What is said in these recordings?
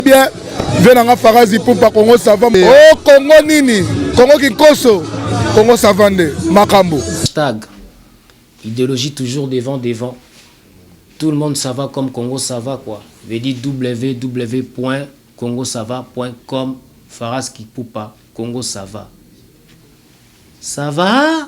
bien vie na nga farazi pupa kongo sava o oh, kongo nini kongo kinkoso kongo sava nde makambo hashtag idéologie toujours devant devant tout le monde ça va comme Congo ça va quoi veut dire www.congosava.com Faras Kipupa Congo ça va ça va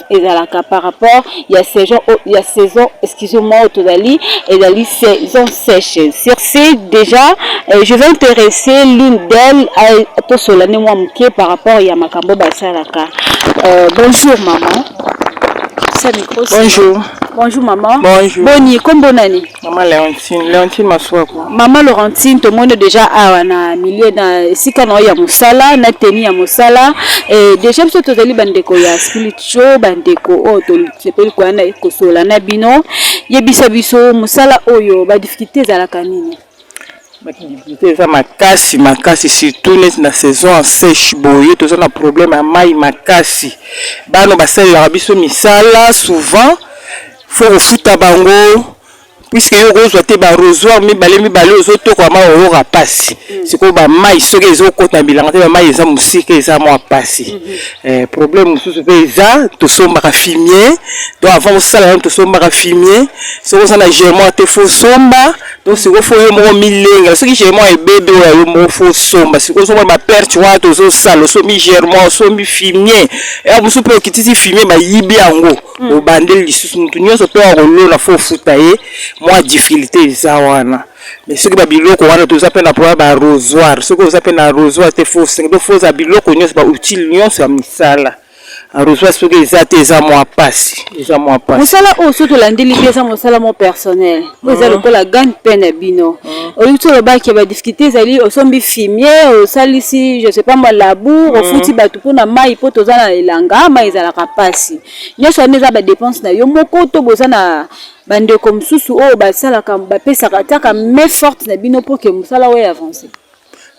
ezalaka par rapport ya saison ya saison excuse moi tozali ezali saison sèche sur ce déjà euh, je vais intéresser l'une d'elle tosola nde mwa moke par rapport ya makambo basalaka euh, bonjour maman bonjour bonjour maman bonjour boni kombo nani Maman Leontine, Leontine Masuaku. Maman Laurentine, tout le monde déjà awa na milieu na esika na ya musala, na tenue ya musala. Et déjà biso tozali bandeko ya spiritual, bandeko oyo tosepeli koya na kosola na bino. Yebisa biso musala oyo ba difficultés ezalaka nini? badifficulté eza makasi makasi surtout neti na saison ya sèche boye toza na problème ya mai makasi bana basalelaka biso misala souvent faut kofuta bango puisque yo okozwa te barosoir mibale mibale ozotoka mai oyoka mpasi mm. sikoyo bamai soki ezokota na bilanga te bamai eza mosika eza mwa mpasi mm-hmm. eh, problème mosusu mpe eza tosombaka fimie to avant osala nano tosombaka fimie soki oza na germoire te fo osomba donc sikoyo fo yo moko milengela soki germoire ebebe oyo yo moko fo osomba sikoyo ozomona baperte wana tozosala osombi germoire osombi fimie ya eh, mosusu mpe okitisi fimie bayibi yango hmm. obandeli lisusu motu nyonso mpe akolona fo ofuta ye mwa difficulté eza wana mais soki babiloko wana toza mpe na problème ba rosoir soki oza mpe na rosoir te fo osenge fo oza biloko nyonso ba outile nyonso ya misala arrosage soki eza te eza mwa mpasi eza mwa mpasi mosala oyo soki tolandeli te eza mosala mwa personnel oyo eza lokola gagne pain na bino olingi ti olobaki ba difficulté ezali osombi fimier osalisi je sais pas moi labour ofuti bato mpo na mai mpo toza na elanga mai ezalaka mpasi nyonso wana eza badepense na yo moko to boza na bandeko mosusu oyo basalaka bapesaka tiaka main forte na bino mpo ke mosala oyo avance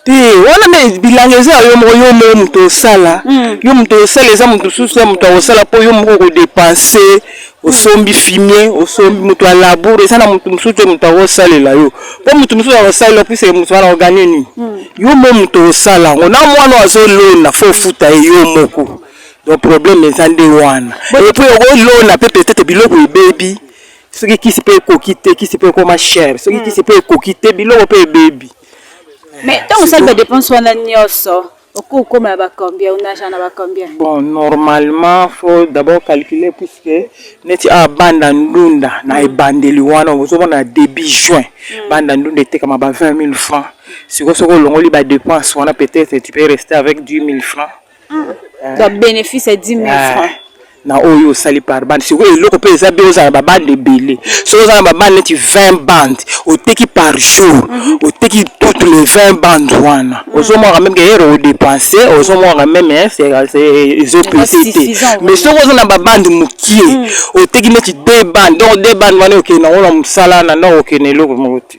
te wana nde bilanga eza ya yo moko yo moko moto osala hmm. yo moto osala eza moto mosusu ya moto akosala mpo yo moko okodepanse osombi hmm. fimie osombi moto ya labour eza na moto mosusu te moto akosalela yo mpo moto mosusu akosalela opesa moto wana oganye nini hmm. yo moko moto osala yango na mwana azolona fo ofuta ye yo moko donc problème eza nde wana epuis okolona mpe peut-être biloko ebebi soki kisi mpe ekoki te kisi mpe ekoma chere soki kisi mpe ekoki te biloko mpe ebebi Mais tant que ça ba dépense wana nioso oko koma na ba combien on a na ba combien Bon normalement faut d'abord calculer puisque neti a banda ndunda na mm. ebandeli wana ozo mona début juin mm. banda ndunda etekama ba 20000 francs siko soko olongoli ba dépense wana peut-être tu peux rester avec 10000 francs Eh. donc bénéfice ya 10 000 eh. francs na oyo osali par bande sikoyo eloko mpe eza bien ozala babande ebele soki oza na babande neti 20 bande oteki par jour mhm. oteki toutes les 20 bande wana mhm. ozomwaka meme keyere odepense ozomwaka meme ezopese te mais soki oza na babande mokie mhm. oteki neti 2 bande donc 2 bande wana okende nango na mosala na ndako okende eloko moko te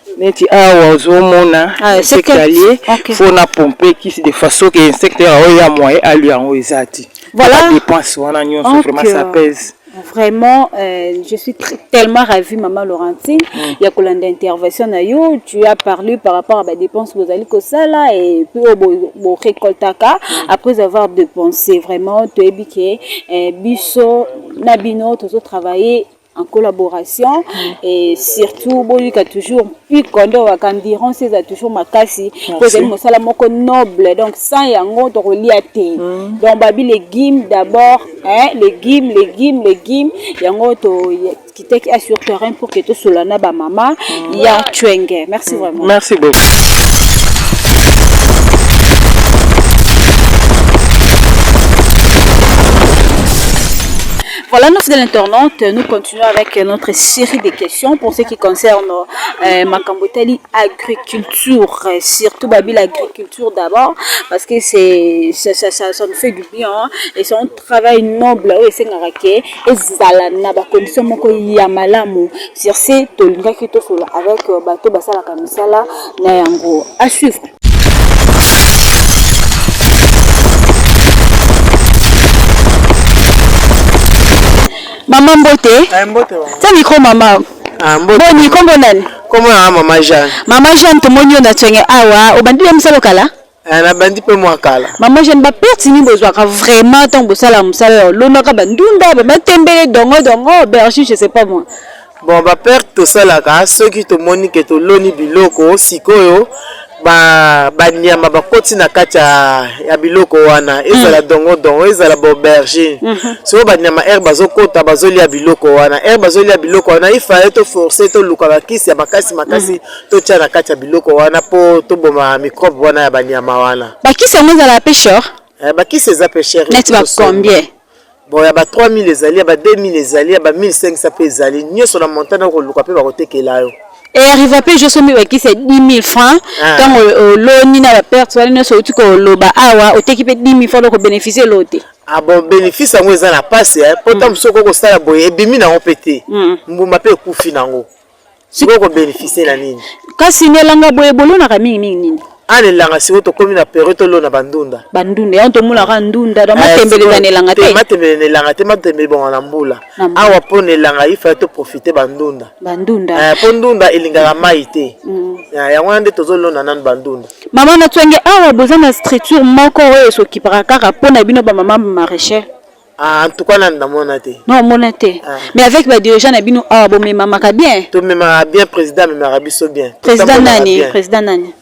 neti awa ozomona ah, insecte alie okay. fo na pompe kisi de façon ke insecte yango oyo ya moye alie yango eza ti voilà. dépense wana nyonso okay. vraiment ça pèse Vraiment, euh, je suis tellement ravie, Maman Laurentine. Mm. Il y a une intervention na yo. Tu as parlé par rapport à la dépense que vous allez ça là et puis au oh, bon récoltaka mm. après avoir dépensé. Vraiment, tu es biqué, euh, bisso, nabino, tu as travaillé. en collaboration mm. et surtout boyika toujours mpiko nde owaka endirance eza toujours makasi mpo ezali mosala moko noble donc sans yango tokolia te mm. donc babi legume d'abord hein, legume legume legume yango tokitaki a sur terrain pour que tosolola na bamama mm. ya chwenge merci mm. vraiment merci beaucoup Voilà, nos fidèles internautes, nous continuons avec notre série de questions pour ce qui concerne euh, Makambotali agriculture, euh, surtout Babil agriculture d'abord, parce que c'est ça, ça, ça, ça, nous fait du bien hein, et c'est un travail noble oyo esengakake ezala na bacondition moko ya malamu sur ce tolingaki tosolola avec euh, bato basalaka misala na yango à suivre Mama mbote. Eh, mbote. Tia micro mama. Ah, mbote. Boni kombo nani? Kombo na mama Jeanne. Mama Jeanne tomoni yo na tsenge awa, obandi ya mosala kala? Eh, nabandi mpe mwa kala mama jeune baperte nini bozwaka vraiment ntango bosala mosala ya olonaka bandunda bamatembele dongo dongo bergi je sais pas moi Bon ba perte tosalaka soki tomoni ke toloni biloko sikoyo ba banyama bakoti na kati ya, ya biloko wana ezala mm. dongo dongo ezala baubergine mm -hmm. soko banyama aire bazokota bazolia biloko wana aire bazolia biloko wana ifale toforce toluka bakisi ya makasi makasi mm -hmm. totya na kati ya biloko wana mpo toboma mikrobe wana ya banyama wana bakisi yango ezala pe sure eh, bakisi eza pe sure neti bacombien Bon, ya ba 3000 ezali, ya ba 2000 ezali, ya ba 1500 pe ezali. Nyoso na montant na koluka pe bakotekela yo. Et arriva pe je somi bakisi 10000 francs ah. tango oloni na ba perte wana nyoso outi koloba awa oteki pe 10000 francs loko bénéficier lote. Ah bon, bénéfice yango eza na pasi eh. Po tango mm. mosusu okoki kosala boye ebimi nango pe te. Mm. Mbuma pe ekufi nango. sikoyo ko beneficie na nini kasi na elanga boye bolonaka mingi mingi nini ana ah, elanga sikoyo tokomi na periode tolona bandunda bandunda yango tomonaka ndunda eh, matembele eza na elanga te matembele na elanga te matembele ebonga na mbula awa mpo na elanga ifai toprofite bandunda bandunda mpo eh, ndunda elingaka mai te mm. eh, yango wana nde tozolona nanu bandunda mama na twange awa boza na structure moko oyo esokipaka kaka mpo na bino bamama maraicher Ah, en tout cas nanu namona te non omona te Ah. mais avec ba dirigeant na bino awa bomemamaka bien tomemaka bien président amemaka biso bien président Totambolaka nani bien. président nani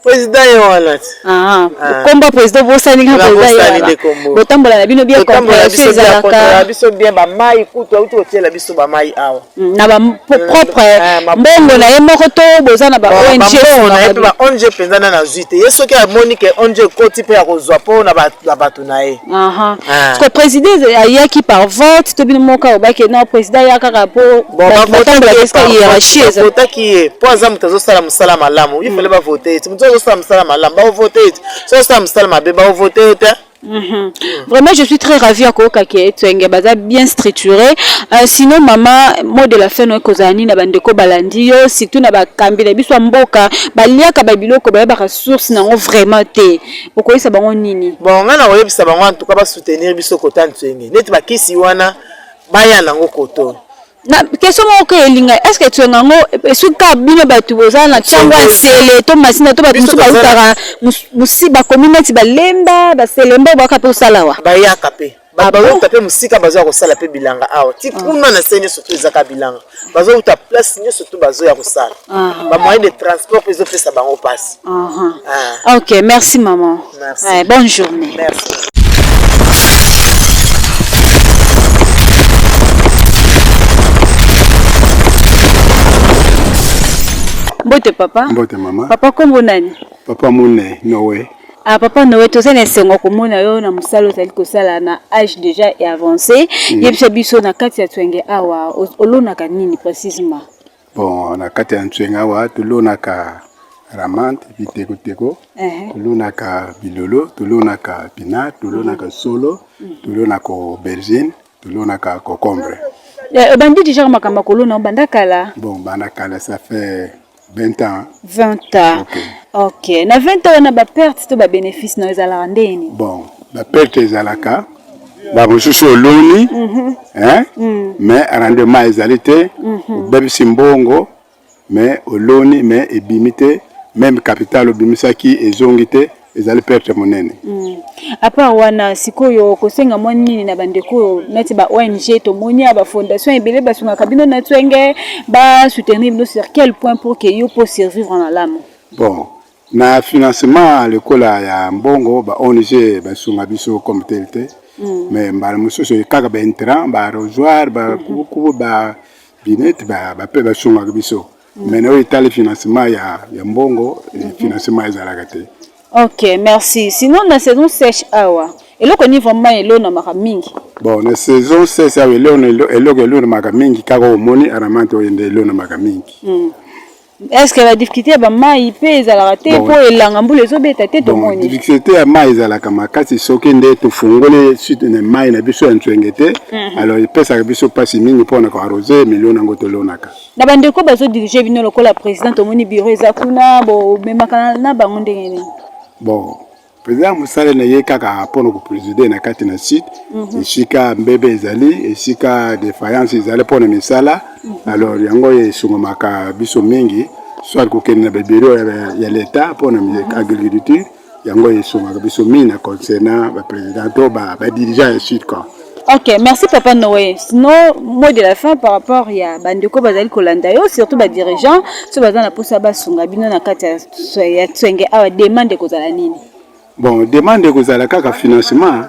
président ye wana ti Ah, Ah. kombo ya président bosani kaka Nabosani président ye wana. nde kombo. botambola na bino bien totambola comprehension biso bien kontaka ezalaka biso bien bamai kutu auti kotiela biso bamai awa Mm, na ba po- propre Ah, ma- mbongo na ye moko to boza na ba Ba- ong bambongo na ye mpe ba ong mpenza nde nazwi te ye soki amoni ke ong ekoti mpe ya kozwa mpo na ba- na bato bato na ye aha ah. siko president ayaki par vote to bino moka obaki non president aya kaka mpo batambolaka hiérarchie ezavotaki ye mpo aza moto azosala mosala malamu ifale mm. bavote ye ti moto azosala mosala malamu baovote ye ti so azosala mosala mabe baovote ye te Mhm. Vraiment, je suis très ravie à Koka qui est baza bien structuré. Euh, sinon, maman, mot de la fin, nous kozani na bandeko balandi yo, surtout na ba kambi na biso mboka, ba liaka ba biloko ba ba source na vraiment te. okoyebisa bango nini bon ngai nakoyebisa bango en tout cas basoutenir biso kota nzenge neti bakisi wana baya nango koto na question moko oyo elinga est ce que etuanga yango esuki kaka bino bato boza na ntango ya nsele to masina to bato mosusu bautaka bakomi neti balemba baselemba oyo baka mpe osala wa bayaka mpe bato bazouta mpe mosika bazoya kosala mpe bilanga awa ti ah. kuna na se nyonso to ezaka bilanga bazouta place nyonso to bazoya kosala ah. bamoyen de transport mpe ezopesa bango mpasi ah. ok merci maman merci. bonne journée merci. mbote papa mbote mama papa kombo nani papa mune nowe Ah, papa Noé, toza na esengo komona yo na mosala ozali kosala na âge déjà et avancé. Mm. Yebisa biso na kati ya Twenge awa olonaka nini précisément? Bon, na kati ya Twenge awa tolonaka ramante biteko teko, uh -huh. tolonaka bilolo, tolonaka pina, tolonaka mm. solo, mm. tolonaka aubergine, tolonaka cocombre. Eh, obandi déjà makambo kolona obanda kala? Bon, banda kala ça fait 20 ans. 20 ans. Ok. Ok. Na 20 ans wana ba pertes to ba bénéfices na ezalaka ndeni? Bon, ba pertes ezalaka ba mosusu oloni mm -hmm. hein? Mm. Mais rendement ezali te, mm -hmm. obebisi mbongo mais oloni mais ebimi te, même capital obimisaki ezongi te. ezali perte monene mm. apart wana sikoyo kosenga mwa nini na bandeko oyo neti ba ong tomoni ya bafondation ebele basungaka bino na twenge basoutenir bino sur quel point pour ke yo mpo survivre malamu bon na financement lokola ya mbongo ba ong basunga biso comme tel te mm. mais mbala mosusu kaka baintrant barosoir bakubukubu mm-hmm. ba binete bape basungaka biso mais na oyo etali financement ya, ya mbongo mm -hmm. financement ezalaka te ok merci sinon na saison sèche awa eloko nini vraiment elonamaka mingi bon na saison sèche awa eloko elonamaka mingi kaka omoni aramante oyo nde elonamaka mingi mm. est ce que badifficulté ya bamai mpe ezalaka te mpo elanga mbula ezobeta te tomoni difficulté ya mai ezalaka makasi soki nde tofungoli site na mai na biso ya nzwenge te mhm. alors epesaka biso mpasi mingi mpo na koarose milio na yango tolonaka na bandeko bazo dirige bino lokola président tomoni bureau eza kuna bomemaka na bango ndenge nini bon président mosala na ye kaka mpo na kopreside na kati na site mhm. esika mbebe ezali esika defaillance ezali mpo na misala mhm. alors yango esungomaka biso mingi soit kokende na babiro ya leta mpo na mhm. agriculture yango esungaka biso mingi na concernant ba président to ba ba dirigeant ya sud quoi Ok, merci Papa Noé. Sinon, mot de la fin par rapport ya bandeko bazali kolanda yo, surtout ba dirigeants, so baza na posa basunga bino na kati ya ya tswenge awa demande ekozala nini? bon demande ekozala kaka financement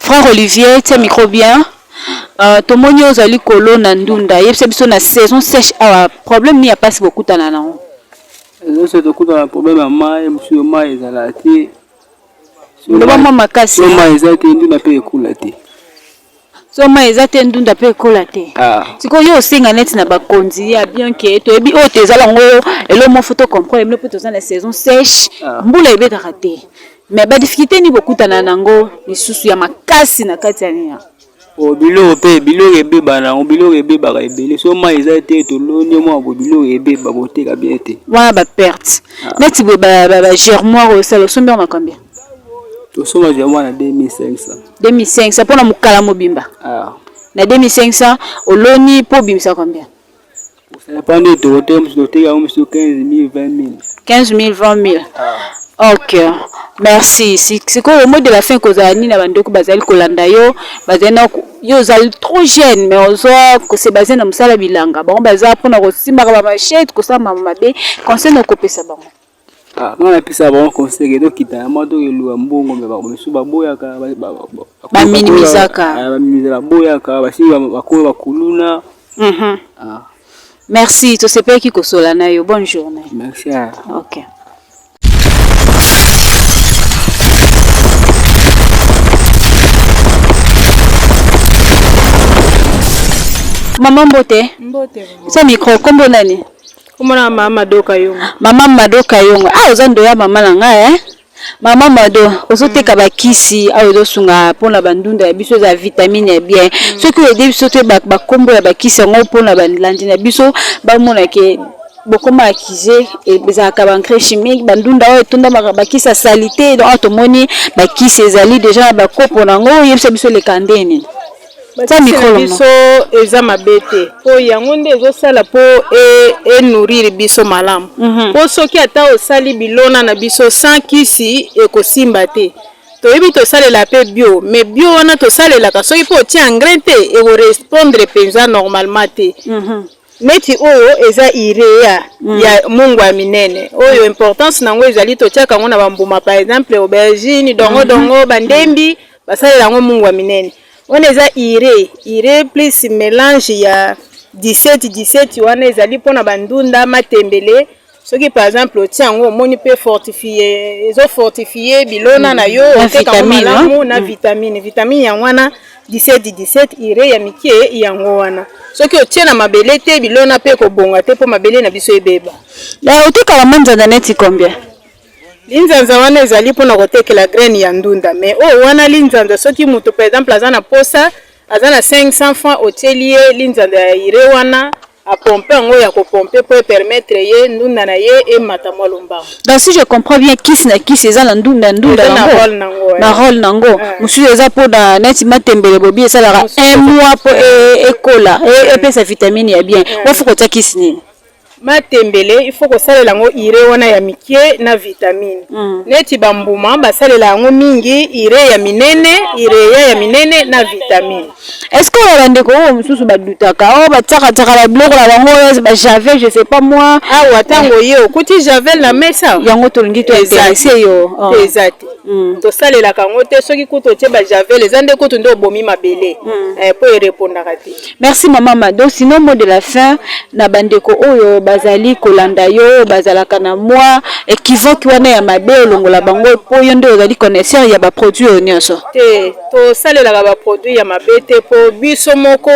Frère Olivier, tiens micro bien. Euh, tomoni ozali kolona ndunda yebisa biso na saison sèche awa problème nini ya mpasi bokutana nango ezose tokutana problème ya mai mosusu yo mai ezala te loba mwa makasi mai eza te ndunda mpe ekula te so mai eza te ndunda mpe ekola te ah. sikoyo yo osenga neti na bakonzi ya bien ke toyebi oyo te ezala yango elo moko to comprendre bino mpe toza na saison sèche ah. mbula ebetaka te mais badifficulté nini bokutana nango lisusu ya makasi na kati ya nina oh, biloko mpe biloko ebeba nango biloko ebebaka ebele so mai eza te toloni mwa bo biloko ebeba koteka bien te wana baperte ah. neti boye bagermoire oyo sala osombi yango na combien tosoma zwa mwana 2500 2500 mpona mokala mobimba ah. na 2500 oloni mpo obimisa combien osapanda etoko te mosusu oteka yango mosusu 15000 20000 15000 20000 ok merci sikoyo omoi de la fin kozala nini na bandeko bazali kolanda yo bazali na yo ozali trop jeune mais oza kose baze na mosala bilanga bango baza mpona kosimbaka bamachete kosala mama mabe conseil na okopesa bango Ah, nga napesa bango conseil ke tokita ya mwa tokeluka mbongo me bakomisu baboyaka baminimisaka ah, baboyaka basi bakomi bakuluna mhm. ah. merci tosepelaki kosola na yo bonne journée merci okay. mama mbote mbote micro kombo nani Komona mama Mado Kayongo. Mama Mado Kayongo. Ah oza ndoya mama na ngai eh. Mama Mado, ozoteka ba kisi awa ezosunga mpona bandunda ya biso eza vitamine ya bien. Mm. Soki oyede biso te bakombo ya bakisi yango mpona balandi na biso bamona ke bokoma akize ezalaka baengrais chimique bandunda oyo etondamaka bakisi ya salite donc awa tomoni bakisi ezali deja na bakopo na yango oyebisa biso eleka ndeni na biso eza mabe te mpo yango nde ezosala mpo enourrir e biso malamu mpo mm -hmm. soki ata osali bilona na biso sans kisi ekosimba te toyebi tosalela mpe bio mais bio wana tosalelaka soki mpe otie engrais te ekorespondre mpenza normalement te mm -hmm. neti oyo eza irea mm. ya mungu ya minene oyo importance na yango ezali totiaka yango na bambuma par exemple aubergine dongo mm -hmm. dongo bandembi mm -hmm. basalela yango mungwa minene wana eza ire ire plus melange ya 17 17 wana ezali mpona bandunda matembele soki par exemple otie yango omoni mpe fortifie ezo fortifie bilona na yo mm. oteka yango malamu na mm. vitamine vitamine yango wana 17 17 ire ya mike yango wana soki otie na mabele te bilona mpe ekobonga te mpo mabele na biso ebeba otekaka manzanza neti combien Linzanza wana ezali mpo na kotekela graine ya ndunda mais oyo wana linzanza soki moto par exemple aza na posa aza na 500 francs otieli ye linzanza ya ire wana apompe yango ya kopompe mpo epermettre ye ndunda na ye emata mwa lombango donc si je comprends bien kisi na kisi eza na ndunda ndunda na role na yango na role na yango mosusu eza mpo na neti matembele bobi esalaka un mois mpo e, ekola e, epesa vitamine ya bien ofuka otia kisi nini matembele il faut kosalela yango ire wana ya mike na vitamine mm. neti bambuma basalela yango mingi ire ya minene ireya ya minene na vitamine estce oyo bandeko oyo mosusu badutaka oyo oh, batiakatiaka babiloko na bango oyo bajavel je sais pas moi awa ah, ntango oye okuti javel na mesa yango tolingi tointerese yo oh. eza te mm. tosalelaka yango te soki kutu otie bajavel eza nde kutu nde obomi mabele mpo mm. eh, erepondaka te Merci maman Mado, sinon mot de la fin na bandeko oyo bazali kolanda yo oyo bazalaka na mwa equivoque wana ya mabe olongola bango mpo yo nde ozali connaisseur ya baproduit oyo nyonso. Te, tosalelaka baproduit ya mabe te mpo biso moko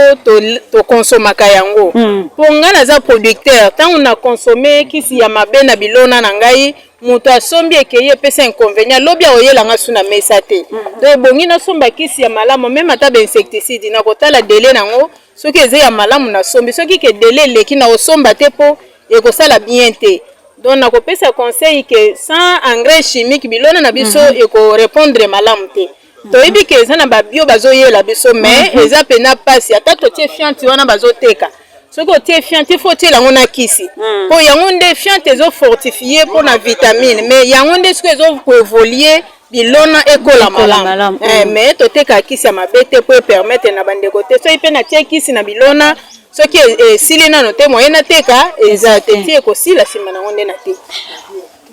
tokonsomaka to yango. Mpo hmm. ngai naza producteur, ntango na consomme kisi ya mabe na bilona na ngai, moto asombi ekei epesa inconvénient lobi akoyela nga su na mesa te mhm. donc ebongi nasomba kisi ya malamu meme ata bainsecticide nakotala dele nango soki eza ya malamu nasombi soki ke dele eleki nakosomba te mpo ekosala bien te donc nakopesa conseil ke sans engrais chimique bilona na biso mm -hmm. ekorepondre malamu te toyebi ke eza na babio bazoyela biso mais mhm. eza pena pasi ata totie fianti wana bazoteka soki otie fiante il faut otiela yango na kisi mpo hmm. yango nde fiante ezofortifie mpo na vitamine mais yango nde soki ezokoevolie bilona ekola malamu eh, hmm. mais totekaka kisi ya mabe te mpo epermettre na bandeko te soki mpe natie kisi na bilona soki e, esili nano te moye nateka eza te ti ekosila nsima nango nde nateki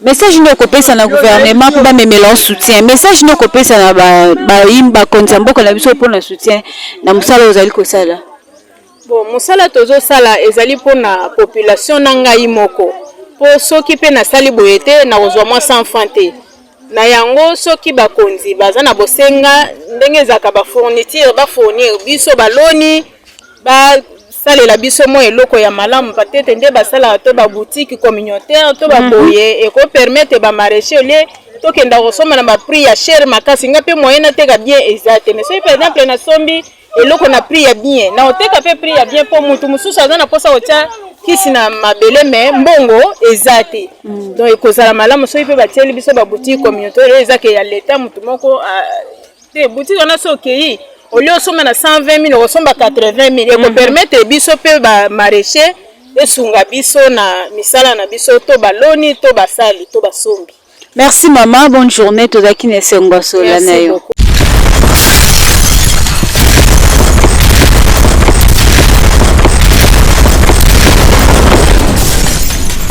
Message nini okopesa na gouvernement mpo bamemela yo soutien? Message nini okopesa na bayini bakonzi ya mboka na biso mpo na soutien na mosala oyo ozali kosala? Bon, mosala tozosala ezali mpo na population na ngai moko, mpo soki mpe nasali boye te nakozwa mwa 100 francs te. Na yango soki bakonzi baza na bosenga ndenge ezalaka ba fourniture ba fournir biso baloni basalela biso mwa eloko ya malamu patete nde basalaka to baboutique communautaire to baboye mhm. ekopermettre bamaraîcher olie tokenda kosomba na baprix ya chere makasi nga mpe moyen nateka bien eza te mais soki par exemple nasombi eloko na prix ya bien na oteka mpe prix ya bien mpo motu mosusu aza na mposa kotya kisi na mabele me mbongo eza te mm. donc ekozala malamu soki mpe batieli biso baboutique communautaire eza ke ya leta motu moko te boutique wana so okei olie osomba na 120 000 okosomba 80 000 mhm. ekopermettre biso mpe bamaraîcher esunga biso na misala na biso to baloni to basali to basombi merci mama bonne journée tozalaki na esengo sola na yo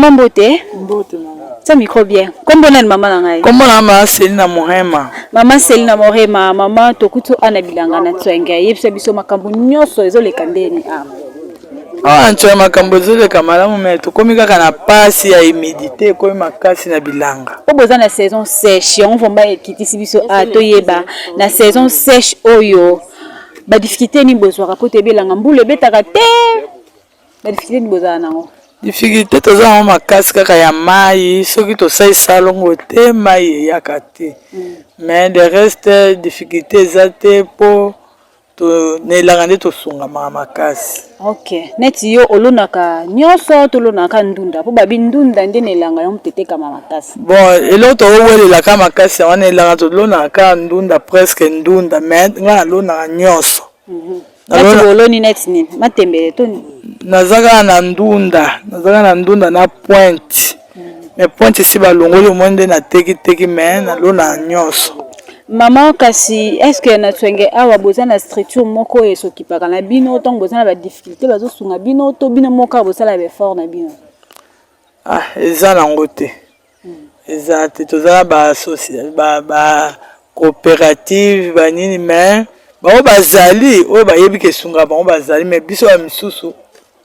Mama mbote. Mbote mama. Sa micro bien. Kombo nani mama na ngai? Kombo na mama Selina Morema. Mama Selina Morema, mama tokutu ana bilanga na tswenge. Yebisa biso makambo nyonso ezoleka ndeni ama. awa na nsona makambo ezoleka malamu me tokomi kaka na pasi ya humidité ekomi makasi na bilanga po boza na saison sèche yango vraimen ekitisi biso a ah, toyeba na saison sèche oyo badifficulté nini bozwaka po toyebi elanga mbula ebetaka te badifficulté nini bozala nango difficulté toza yango makasi kaka ya mai soki tosalisa longo te mai eyaka te mm. mais de reste difficulté eza te mpo to na elanga nde tosungamaka makasi ok neti yo olonaka nyonso tolonaka ndunda mpo babi ndunda nde na elanga yango tetekama makasi bon eloko towelelaka makasi yango na elanga tolonaka ndunda presque ndunda mais ngai nalonaka nyonso mhm. oloni neti nini matembele to nini naza kaka na ndunda naza kaka na ndunda na pointe mais pointe esi balongoli omoni nde na teki teki mais nalona nyonso mama kasi est ce que na twenge awa boza na structure moko oyo esokipaka na bino ntango boza na badifficulté bazosunga bino to bino moko kaka bosala baeffort na bino ah eza nango te hmm. eza te toza na bacoopérative banini mais bango bazali oyo bayebi kesunga bango bazali mais biso ya misusu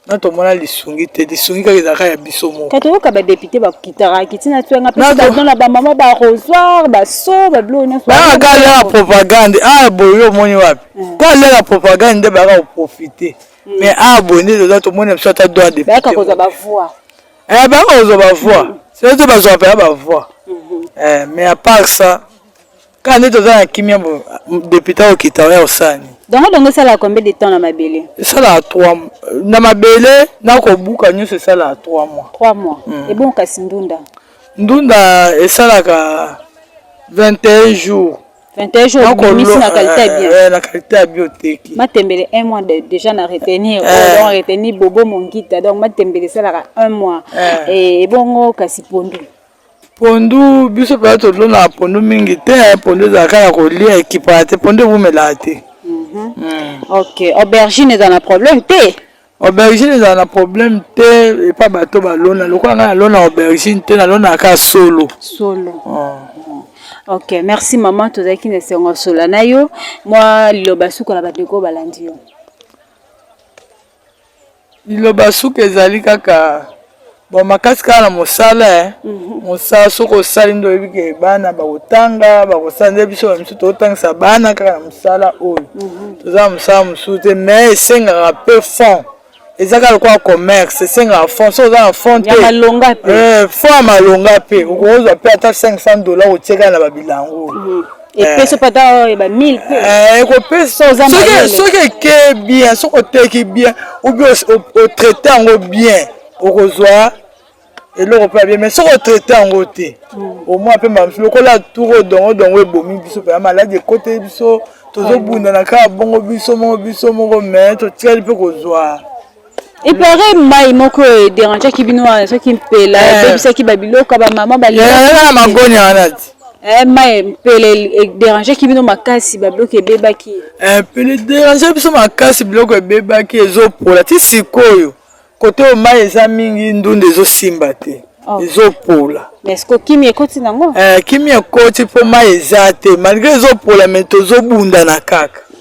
na tomona lisungi te lisungi kaka ezalaka ya biso moko kaka oyoka badepute bakitaka kiti na tuanga mpe na bamama barosoir baso babilo nyonso baa kalaka propagande a boye omoni wapi eh. ka leka propagande nde bayaka koprofite hmm. mais a boye nde toza tomoni na biso ata droit depute bayaka kozwa bavoi eh, bayaka kozwa bavoi hmm. soki te bazwaka mpenza bavoi hmm. eh, mais à part ça kaka nde toza na kimia bo depute okita oya osani dongo dongo esalaka combien de temps na mabele esalaka trois na mabele na kobuka nyonso esalaka trois mois trois mois mm. ebongo kasi ndunda ndunda esalaka 21 jours 21 jours obimisi na qualité ya bien eh, eh, na qualité ya bio oteki matembele un mois de, déjà na retenir eh. oh, donc retenir bobo mongita donc matembele esalaka un mois eh. ebongo kasi pondu pondu biso mpenza tolonaka pondu mingi te pondu ezalaka ya kolia ekipaka te pondu ewumelaka te mhm. mm. ok aubergine eza na problème te aubergine ezala na problème te epa bato balona lokola ngai nalona aubergine te nalona kaka solo solo oh. ok merci maman tozalaki na esengo sola na yo mwa liloba suka na bandeko balandi yo liloba suka ezali kaka bon makasi kaka na mosala eh. mhm. mosala soki osali nde oyebi ke bana bakotanga bakosala nde biso bamisu totangisa bana kaka na mosala oyo mhm. toza na mosala mosusu te mais esengaka peu fond eza kaka lokola commerce esengaka fond soki oza na fond te eh, fond ya malonga mpe okozwa mpe ata 500 dollar otiekaka na babilango mhm. epesi eh. pata oyeba 1000 pe eh, ekopesa soki eke bien soki oteki bien oubien otraite yango bien okozwa eloko mpe abie mai soki otraite yango te omwa mpe mamisi lokola turo dongo dongo ebomi biso mpe ya maladi ekoteli biso tozobundana kaka bongo biso moko biso moko mai totikali mpe kozwa epare mai moko ederangeaki bino wana soki mpela eh. ebebisaki babiloko ya bamama balaa magonya wana ti eh, mai mpele ederangeaki bino makasi babiloko ebebaki eh, mpele ederange biso makasi biloko ebebaki ezopola ti sikoyo kote oyo mai eza mingi ndunda ezosimba te oh. ezopola eske kimia ekoti nango kimia ekoti mpo mai eza te malgre ezopola me tozobundana kaka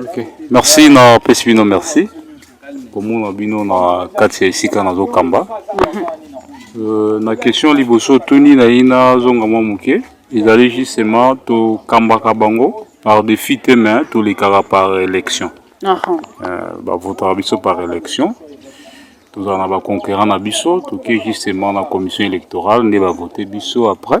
Ok, merci na pesi bino merci komona bino na kati ya esika nazokamba euh, na question liboso tuni na ye nazonga mwa moke ezali justement tokambaka bango par défi te mais tolekaka par élection euh, bavotaka biso par élection tozala na baconquérant na biso toke justement na commission électorale nde bavote biso après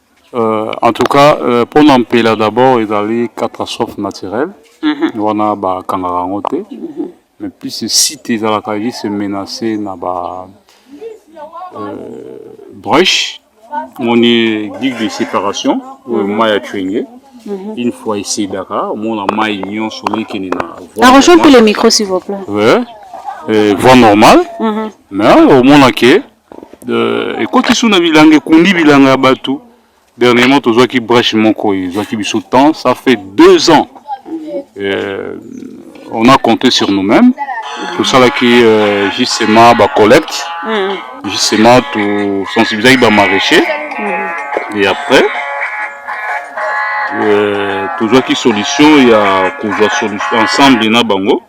Euh, en tout cas euh, mpo na mpela d'abord ezali catastrophe naturelle mhm. wana bakangaka yango te mhm. mais plus site ezalaka juste menacé na ba euh, brèche omoni digue de séparation oyo mhm. mai ya cuenge une fois esedaka omona mai nyonso ekende na voie normale mais omonake Euh, ekoti sous na bilanga ekundi bilanga ya bato dernièrement tozwaki brèche moko ezwaki biso temps ça fait deux ans euh, on a compté sur nous-mêmes tosalaki euh, justement bacollecte mm. justement tosensibilisaki bamaraîcher mm. et après euh, tozwaki solution ya kozwa ensemble na bango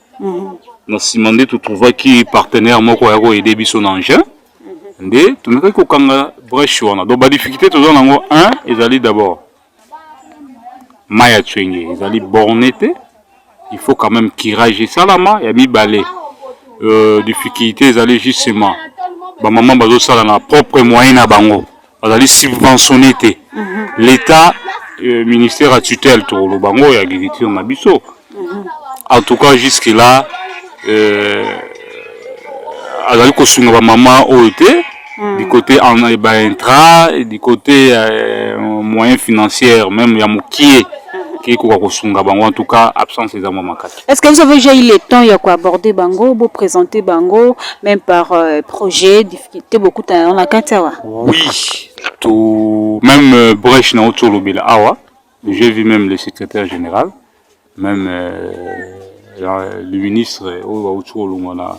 na nsima nde totrouvaki partenaire moko ya koyede biso na engin nde tomekaki kokanga breche wana donc badifficulté toza na yango un ezali d'abord mai ya cwenge ezali borne te il faut quand même kirage esalama ya mibale euh, difficulté ezali justement bamama bazosala na propre moyen na bango bazali subventionne te mhm. l'etat euh, ministère ya tutelle tokoloba ngo ya agriculture na biso mhm. en tout cas jusque là euh, azali kosunga bamama oyo te mm. du côté eh, baintra du côté euh, moyen financière même ya mokie mhm. kekoka kosunga bango en tout cas absence eza mwa makasi Est-ce que vous avez déjà eu le temps ya ko aborder bango, bo présenter bango même par euh, projet, difficulté beaucoup na na kati awa? Oui, tout même euh, brèche na oto lobela awa. J'ai vu même le secrétaire général, même euh, la- le ministre oyo auti olongwa na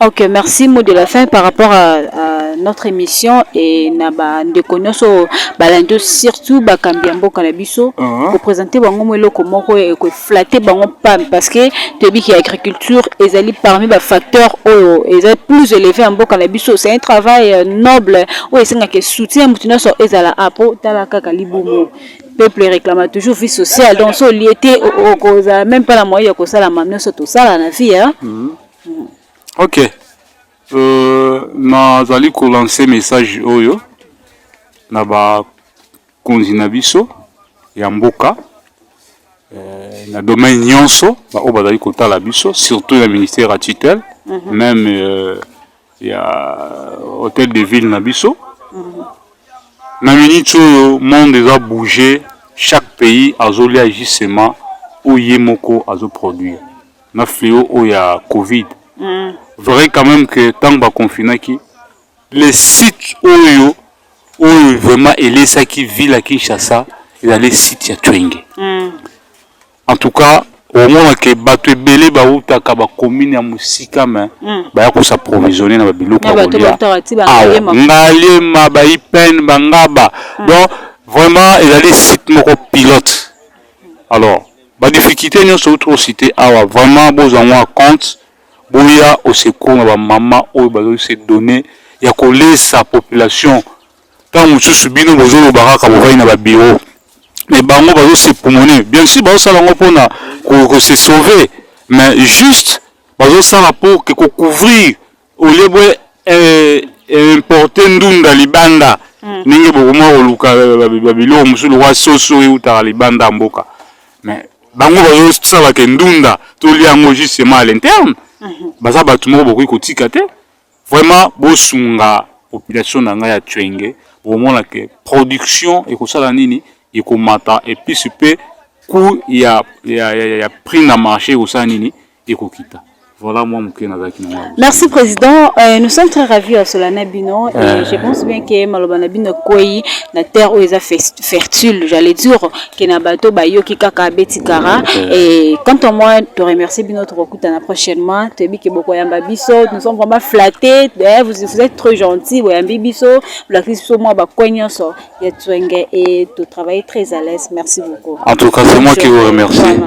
Ok, merci. Mot de la fin par rapport à, à notre émission et na ba ndeko nyoso balandi surtout ba kambia mboka na biso uh -huh. ko présenter bango mo eloko moko et ko flatter bango pam parce que toyebi ki agriculture ezali parmi ba facteurs oyo ezali plus élevé en mboka na biso c'est un travail euh, noble oyo esengaka soutien moto nyonso ezala apo tala kaka libumu peuple réclame toujours vie sociale donc so lieu te okozala même pas na moyen ya kosalama nyonso tosala na vie hein? mm -hmm. Ok. Euh, nazali kolanse message oyo na bakonzi na biso ya mboka euh, na domaine nyonso baoyo bazali kotala biso surtout na ministère ya tutelle mm -hmm. meme euh, ya hotel de ville na biso mm. na miniti oyo monde eza bouge chaque pays azolia justement oyo ye moko azoproduire na fleo oyo ya covid mm. vrai quand même que ntango baconfinaki les sites oyo oyo vraiment elesaki ville ya kinshasa ezali site ya twenge mm. En tout cas, omona ke bato ebele bawutaka bakomine ya mosika me hmm. baya kosa provisionne na babiloko ya kolia awa ngaliema baipene bangaba hmm. donc vraiment ezali site moko pilote alors badifficulté nyonso outi osite awa vraiment bozwa yango ya compte boya osecour na bamama oyo bazali se donne ya kolesa population ntango mosusu bino bozoloba kaka bovai na babiro me bango bazosepumone bien sur bazosala yango mpona kose sauver mais juste bazosala mpo ke kocouvrir olie bwe eh, eh, importe ndunda libanda hmm. ndenge bokoma koluka babiloko mosusu lokwa soso eutaka libanda ya mboka mais bango bazosala ke ndunda tolia yango justement à l'interne mhm. baza bato moko bokoki kotika te Vraiment bosunga population na ngai ya Twenge, bomona ke production ekosala nini ekomata epuis pe coût ya, ya, ya, ya prix na marché ekosala nini ekokita. Voilà moi moke nazalaki na ngai. Merci président, euh, nous sommes très ravis ya sola na bino et euh... je pense bien que maloba na bino ekwei na terre oyo eza fertile, j'allais dire que na bato bayoki kaka abeti kara mm. et quant à moi to remercie bino tokokutana prochainement toyebi ke bokoyamba biso nous sommes vraiment flattés eh, vous, vous êtes trop gentil boyambi biso bolakisi biso mwa bakoin nyonso ya tswenge et to travailler très à l'aise merci beaucoup en tout cas c'est moi qui vous remercie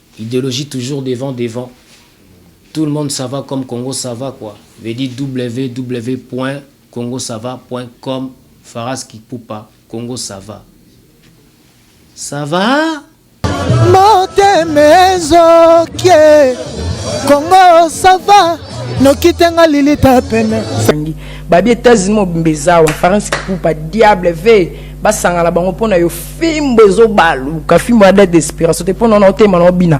Ideologie toujours devant devant tout le monde sava comme congo sava quoi veut dit ww point congo sava point com farask ipupa congo sava savaa. Motema ezokie congo sava noki te nga lilita pene. Babi Etats-Unis mobimba eza awa farask ipupa diable ve. basangana bango mpo na yo fimbo ezobaluka fimbo ya date d'expiration te mpo na ona otema na obina